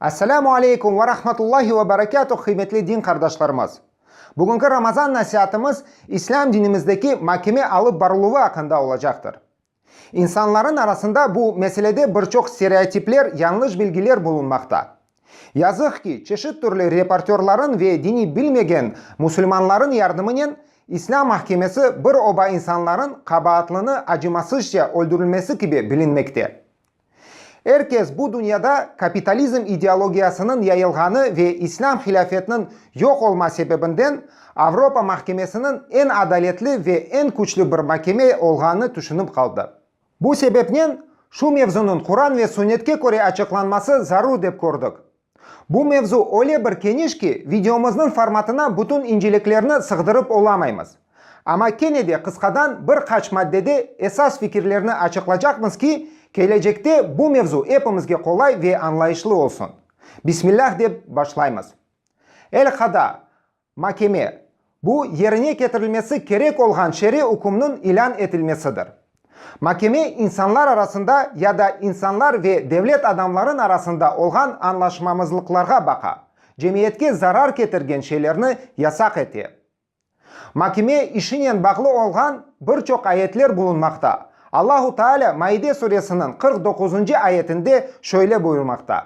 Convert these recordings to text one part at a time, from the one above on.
Esselamu aleykum ve rahmetullahi ve berekatuh qıymetli din qardaşlarımız! Bugünki Ramazan nasiatımız İslâm dinimizdeki makeme alıp barıluvı aqqında olacaqtır. İnsanların arasında bu meselede bir çoq stereotipler, yañlış bilgiler bulunmaqta. Yazıq ki, çeşit türlü reportörların ve dini bilmegen musulmanların yardımınen İslâm mahkemesi bir oba insanların qabaatlını acımasızca öldürilmesi kibi bilinmekte. Er kes bu dünyada kapitalizm ideologiyasınıñ yayılğanı ve İslâm hilâfetiniñ yoq olma sebebinden Avropa mahkemesiniñ eñ adaletli ve eñ küçlü bir makeme olğanını tüşünip qaldı. Bu sebepnen şu mevzunıñ Quran ve Sünnetke köre açıqlanması zarur dep kördik. Bu mevzu öyle bir keniş ki, videomıznıñ formatına bütün inceliklerni sığdırıp olamaymız. Amma kene de qısqadan bir qaç maddede esas fikirlerni açıqlacaqmız ki, kelecekte bu mevzu epimizge qolay ve añlayışlı olsun. Bismillah dep başlaymız. Elqada, Makeme, bu yerine ketirilmesi kerek olğan şer'iy ükümniñ ilân etilmesidir. Makeme insanlar arasında ya da insanlar ve devlet adamlarıñ arasında olğan añlaşmamızlıqlarğa baqa, cemiyetke zarar ketirgen şeylerni yasaq ete. Makeme işinen bağlı olğan bir çoq ayetler bulunmaqta. Allahu Taalâ Maide suresiniñ qırq doquzuncı ayetinde şöyle buyurmaqta.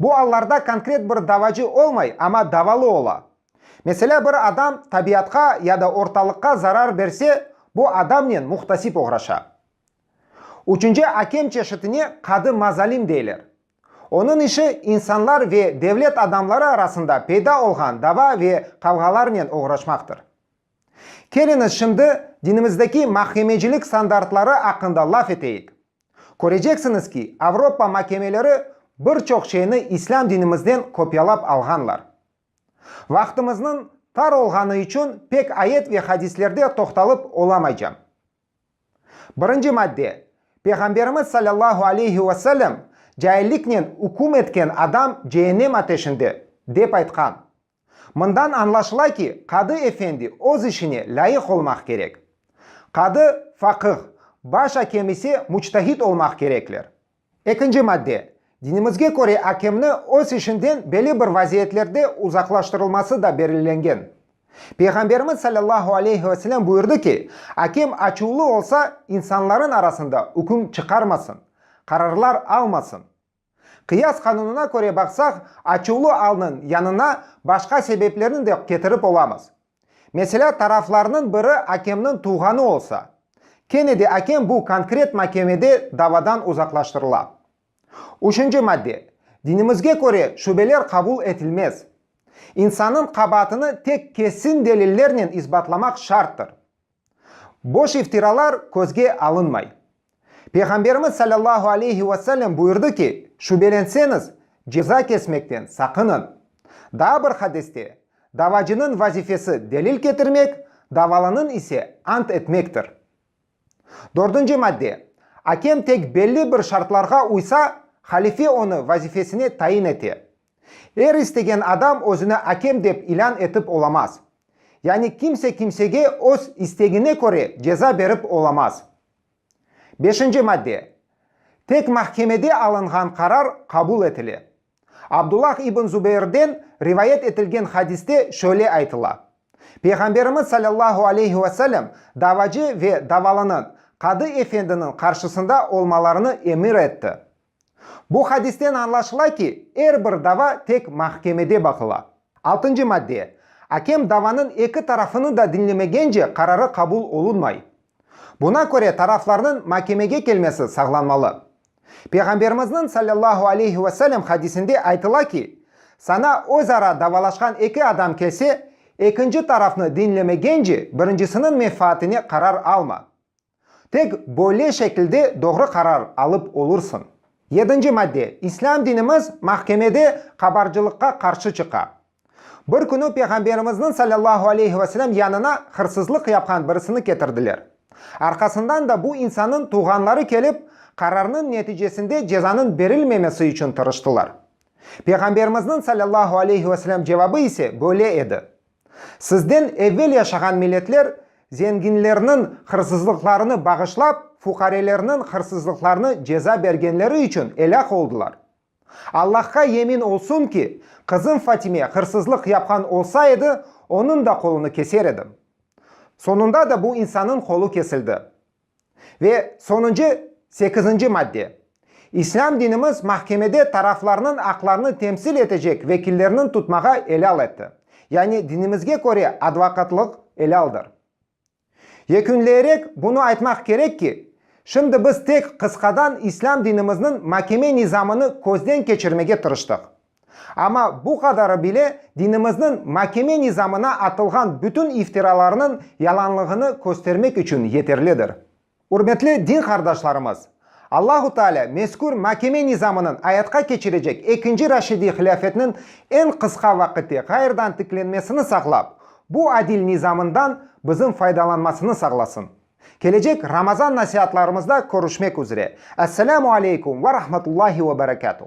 Bu allarda konkret bir davacı olmay, amma davalı ola. Meselâ, bir adam tabiatqa ya da ortalıqqa zarar berse, bu adamnen muhtasip oğraşa. Üçünci akem çeşitine qadı mazalim deyler. Onıñ işi insanlar ve devlet adamları arasında peyda olğan dava ve qavğalarnen oğraşmaqtır. Keliñiz, şimdi dinimizdeki makemecilik standartları aqqında laf eteyik. Köreceksiñiz ki, Avropa makemeleri bir çoq şeyni islâm dinimizden kopyalap alğanlar. Vaqtımıznıñ tar olğanı içün pek ayet ve hadislerde toqtalıp olamaycam. Birinci madde, Peyğamberimiz salâllahu aleyhi ve sellem, Cailliknen üküm etken adam cehennem ateşinde, dep aytqan. Mından añlaşıla ki, qadı efendi öz işine lâyıq olmaq kerek. Qadı, faqıh, baş akem ise muçtahid olmaq kerekler. Ekinci madde, dinimizge köre akemni öz işinden belli bir vaziyetlerde uzaqlaştırılması da belgilengen. Peyğamberimiz salâllahu aleyhi ve selâm buyurdı ki, akem açuvlı olsa, insanların arasında üküm çıqarmasın, qararlar almasın. Qıyas qanunına köre baqsaq, açuvlı alnıñ yanına başqa sebeplerni de ketirip olamız. Meselâ, taraflarnıñ biri akemniñ tuvğanı olsa, kene de akem bu konkret makemede davadan uzaqlaştırıla. Üçünci madde, dinimizge köre şübeler qabul etilmez. İnsannıñ qabaatını tek kesin delillernen isbatlamaq şarttır. Boş iftiralar közge alınmay. Peyğamberimiz salâllahu aleyhi ve sellem buyurdı ki, şübelenseñiz, ceza kesmekten saqınıñ. Daa bir hadiste, Davacınıñ vazifesi delil ketirmek, davalanıñ ise ant etmektir. Dördünci madde, Akem tek belli bir şartlarğa uysa, halife onı vazifesine tayin ete. Er istegen adam özüni akem dep ilân etip olamaz. Yani kimse kimsege öz istegine köre ceza berip olamaz. Beşinci madde. Tek mahkemede alınğan qarar qabul etile. Abdullah ibn Zubeyrden rivayet etilgen hadiste şöyle aytıla, Peyğamberimiz salâllahu aleyhi ve sellem davacı ve davalanıñ qadı efendiniñ qarşısında olmalarını emir etti. Bu hadisten añlaşıla ki, er bir dava tek mahkemede baqıla. Altıncı madde, Akem davanıñ eki tarafını da diñlemegence qararı qabul olunmay. Buna köre taraflarnıñ makemege kelmesi saqlanmalı. Peyğamberimizniñ sallallahu aleyhi ve sellem hadisinde aytıla ki, Saña özara davalaşqan eki adam kelse, ekinci tarafnı diñlemegence birincisiniñ menfaatine qarar alma. Tek böyle şekilde doğru qarar alıp olursıñ. Yedinci madde, İslâm dinimiz mahkemede qabarcılıqqa qarşı çıqa. Bir künü Peyğamberimizniñ sallallahu aleyhi ve selem yanına hırsızlıq yapqan birisini ketirdiler. Arqasından da bu insannıñ tuvğanları kelip, qararnıñ neticesinde cezanıñ berilmemesi içün tırıştılar. Peyğamberimizniñ sallallahu aleyhi ve selem cevabı ise böyle edi, Sizden evel yaşağan milletler zenginlerniñ hırsızlıqlarını bağışlap, fuqarelerniñ hırsızlıqlarını ceza bergenleri içün elâk oldılar. Allahqa yemin olsun ki, qızım Fatime hırsızlıq yapqan olsa edi, onıñ da qolunı keser edim. Soñunda da bu insannıñ qolu kesildi. Ve sonuncı, sekizinci madde. İslâm dinimiz mahkemede taraflarnıñ aqlarını temsil etecek vekillerniñ tutmağa elâl etti. Yani dinimizge köre advokatlıq elâldır. Yekünleyerek bunı aytmaq kerek ki, şimdi biz tek qısqadan İslâm dinimizniñ makeme nizamını közden keçirmege tırıştıq. Amma bu qadarı bile dinimizniñ makeme nizamına atılğan bütün iftiralarnıñ yalanlığını köstermek içün yeterlidir. Ürmetli din qardaşlarımız! Allahu Taalâ mezkür makeme nizamınıñ ayatqa keçirecek ekinci Raşidiy hilâfetniñ eñ qısqa vaqitte ğayrıdan tiklenmesini saqlap, bu adil nizamından bizim faydalanmasını sağlasın. Kelecek Ramazan nasiatlarımızda körüşmek üzre. Esselamu aleykum ve rahmetullahi ve berekatuh.